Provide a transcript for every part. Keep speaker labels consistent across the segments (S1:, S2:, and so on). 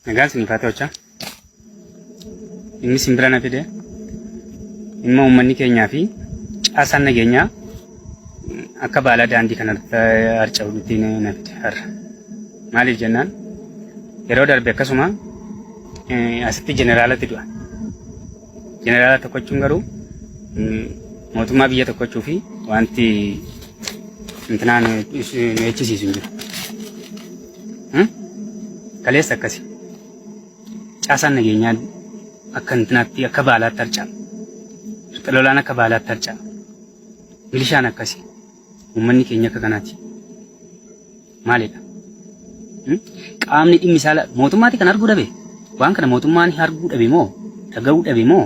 S1: Nagaan isin faate hojjaa. Inni simbira na fide dhimma uummanni keenyaa fi caasaan nageenyaa akka baalaa daandii kana harca'uutti na fide har'a. Maaliif jennaan yeroo darbe akkasuma asitti jeneraalatti du'a. Jeneraala tokkochuun garuu mootummaa biyya tokkochuu fi wanti intinaan nu eeggisiisu hin jiru. Kaleessa akkasi. Caasaan nageenyaa akka intinaatti akka baalaatti harca'a. Rixa lolaan akka baalaatti harca'a. Milishaan akkasi. Uummanni keenya akka kanaati. Maalidha? Hmm? Qaamni dhimmi isaa la- mootummaati kan arguu dhabe. Waan kana mootummaan arguu dhabe moo? Dhaga'uu dhabe moo?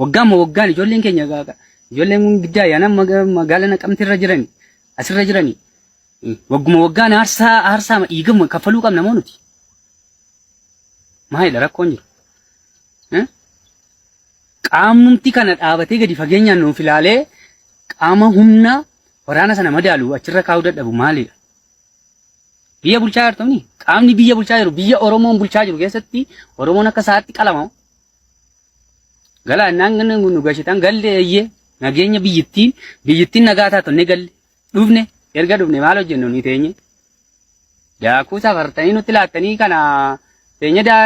S1: Waggaamma waggaan ijoolleen keenya ijoolleen kun giddaa ayyaanaa magaala naqamte irra jirani asirra jirani wagguma waggaan aarsaa aarsaa dhiigama kaffaluu qabna moo nuti? Maalidha rakkoon jiru? Qaamnumti kana dhaabatee gadi fageenyaan nuuf ilaalee qaama humna waraana sana madaalu achirra kaa'uu dadhabu maalidha? Biyya bulchaa jirtu qaamni biyya bulchaa jiru biyya Oromoon bulchaa jiru keessatti Oromoon akka isaatti qalama Galaa naannoo nu gashitan galle eeyyee nageenya biyyittiin biyyittiin nagaa taatu ni galle dhufne erga dhufne maal hojjennu ni teenye daakuu safartanii nutti laattanii kana teenye daa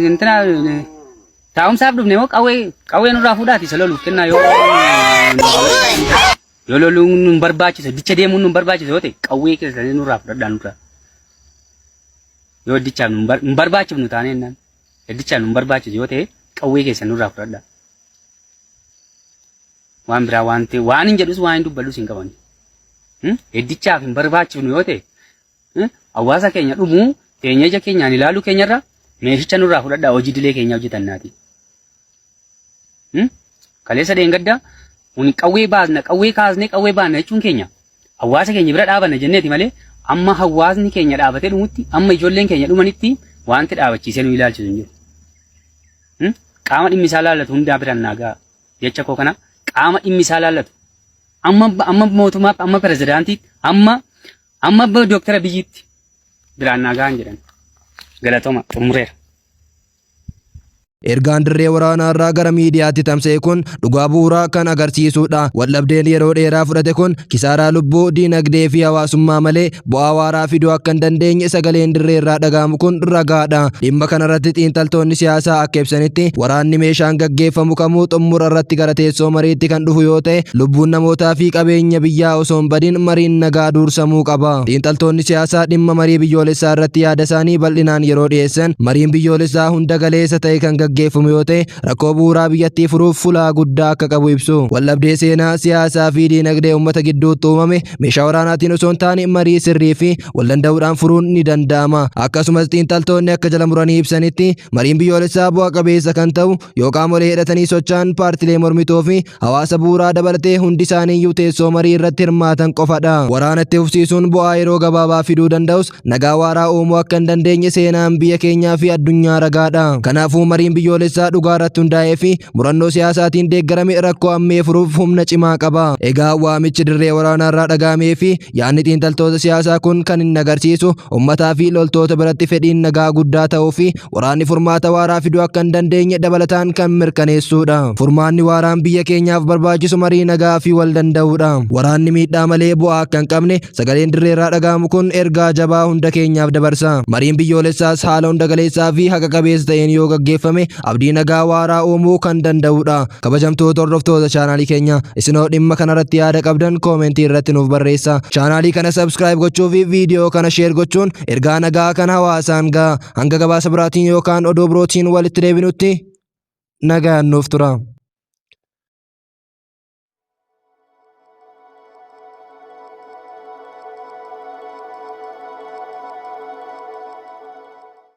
S1: intina taa'umsaaf dhufne moo qawwee qawwee nurraa fuudhaati isa loluuf kennaa yoo yoo loluun nun barbaachisa dicha deemuun nun barbaachisa yoo ta'e qawwee keessanii nurraa fudhadhaa nurraa yoo dichaaf nun barbaachifnu taanee innaan. Gaddichaan nun barbaachisu yoo ta'e qawwee keessan nurraa fudhadhaa. Waan biraa waan ta'e waan hin jedhus waan hin dubbadhus hin qaban. Gaddichaaf hin barbaachifnu yoo ta'e hawaasa keenya dhumuu keenya ija keenyaan ilaaluu keenyarra meeshicha nurraa fudhadhaa hojii dilee keenya hojjetannaati. Kaleessa dheengadda uni qawwee baasna qawwee kaasnee qawwee baasna jechuun keenya hawaasa keenya bira dhaabanna jenneeti malee amma hawaasni keenya dhaabatee dhumutti amma ijoolleen keenya dhumanitti wanti dhaabachiisee nu ilaalchisu hin jiru. Qaama dhimmi isaa laallatu hundaa biraan naagaa jecha koo kana qaama dhimmi isaa laallatu amma amma mootummaa amma pirezidaantiitti amma amma doktara biyyiitti biraan naagaa hin jedhan galatoma xumureera.
S2: Ergaan dirree waraanaa irraa gara miidiyaatti tamsa'e kun dhugaa bu'uuraa kan agarsiisudha. Waldhabdeen yeroo dheeraa fudhate kun kisaaraa lubbuu, diinagdee fi hawaasummaa malee bu'aa waaraa fiduu akka hin dandeenye sagaleen dirree irraa dhaga'amu kun ragaadha. Dhimma kanarratti xiinxaltoonni siyaasaa akka ibsanitti waraanni meeshaan gaggeeffamu kamuu xummura irratti gara teessoo mariitti kan dhufu yoo ta'e lubbuun namootaa fi qabeenya biyyaa osoo hin badin mariin nagaa duursamuu qaba. Xiinxaltoonni siyaasaa dhimma marii biyyoolessaa irratti yaada isaanii bal'inaan yeroo dhiyeessan Mariin biyyoolessaa hunda galeessa ta'e kan gaggeeffamu yoo ta'e rakkoo bu'uuraa biyyattii furuuf fulaa guddaa akka qabu ibsu. Waldhabdee seenaa, siyaasaa fi diinagdee uummata gidduutti uumame meeshaa waraanaatiin osoo hin taane marii sirrii fi waldanda'uudhaan furuun ni danda'ama. Akkasumas xiinxaltoonni akka jala muranii ibsanitti mariin biyyoolessaa bu'a qabeessa kan ta'u yoo qaamolee hidhatanii socho'an paartilee mormitoo fi hawaasa bu'uuraa dabalatee hundi isaaniiyyuu teessoo marii irratti hirmaatan qofadha. Waraana itti fufsiisuun bu'aa yeroo gabaabaa fiduu danda'us nagaa waaraa uumuu akka hin dandeenye seenaan biyya keenyaa fi addunyaa ragaadha. Kanaafuu mariin biyyoolessaa dhugaa irratti hundaa'ee fi murannoo siyaasaatiin deeggarame rakkoo ammee furuuf humna cimaa qaba. Egaa waamichi dirree waraanaa irraa dhaga'amee fi yaadni xiinxaltoota siyaasaa kun kan inni agarsiisu ummataa fi loltoota biratti fedhiin nagaa guddaa ta'uu fi waraanni furmaata waaraa fiduu akka hin dandeenye dabalataan kan mirkaneessuudha. Furmaanni waaraan biyya keenyaaf barbaachisu marii nagaa fi wal danda'uudha. Waraanni miidhaa malee bu'aa akka hin qabne sagaleen dirreerraa dhaga'amu kun ergaa jabaa hunda keenyaaf dabarsa. Mariin biyyoolessaas haala hunda galeessaa fi haqa qabeessa ta'een yoo gaggeeffame abdii nagaa waaraa uumuu kan danda'uudha. Kabajamtoota hordoftoota chaanaalii keenya isinoo dhimma kanarratti yaada qabdan koomentii irratti nuuf barreessa. Chaanaalii kana subscribe gochuu fi viidiyoo kana share gochuun ergaa nagaa kan hawaasaan ga'a. hanga gabaasa biraatiin yookaan oduu birootiin walitti deebinutti nagaan nuuf tura.